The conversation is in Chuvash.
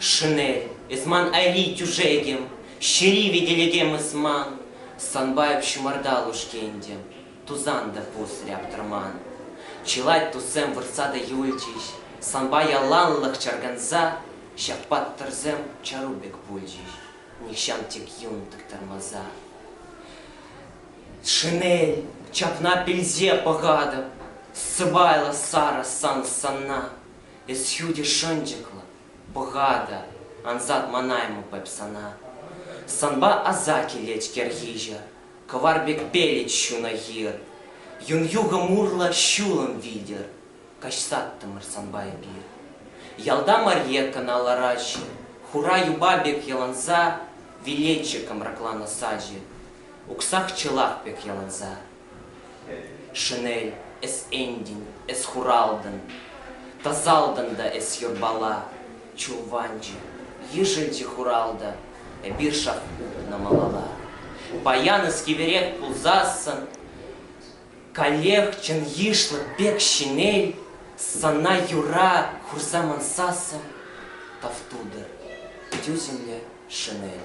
Шинель, эс ман айри тӳшекӗм, Ҫӗри витӗлекем эс ман, Санпа эп ҫумӑрта лушкентӗм, Тусан та пус ряптӑрман. Чылай туссем выртса та юлчӗҫ, Санпа яланлӑх чарканса, Ҫак паттӑрсем чару пек пулчӗҫ, Нихҫан тек юн тӑктармаса. Шинель, ҫакна пӗлсе пӑхатӑп, Сӑпайлӑ сарӑ сан сана, Эс ҫутӗ шӑнчӑклӑ, пӑха та, ансат манаймӑп эп сана. Санпа аса килет кӗрхиҫӗ, кӑвар пек пелӗт ҫунӑ хир. Юн юхӑм урлӑ ҫулӑм витӗр каҫсаттӑмӑр санпа эпир. Ялта Марьекӑна лараҫҫӗ, хура юпа пек йӑланса, вилетчӗ кӑмракланӑ сачӗ, уксах-чӑлах пек йӑланса. Шӗнел, эс Энтин, эс хуралтӑн, Тасалтӑн та эс юрпала, Чулванчӑ, йышӑнчӗ хуралтӑ, Эпир шак утнӑ малалла. Паян эс кивӗрех пулсассӑн, Каллех чӑн йышлӑ пек ҫӗнел, Сана юра хурса мансассӑн Тав тутӑр, тӳсӗмлӗ Шӗнел.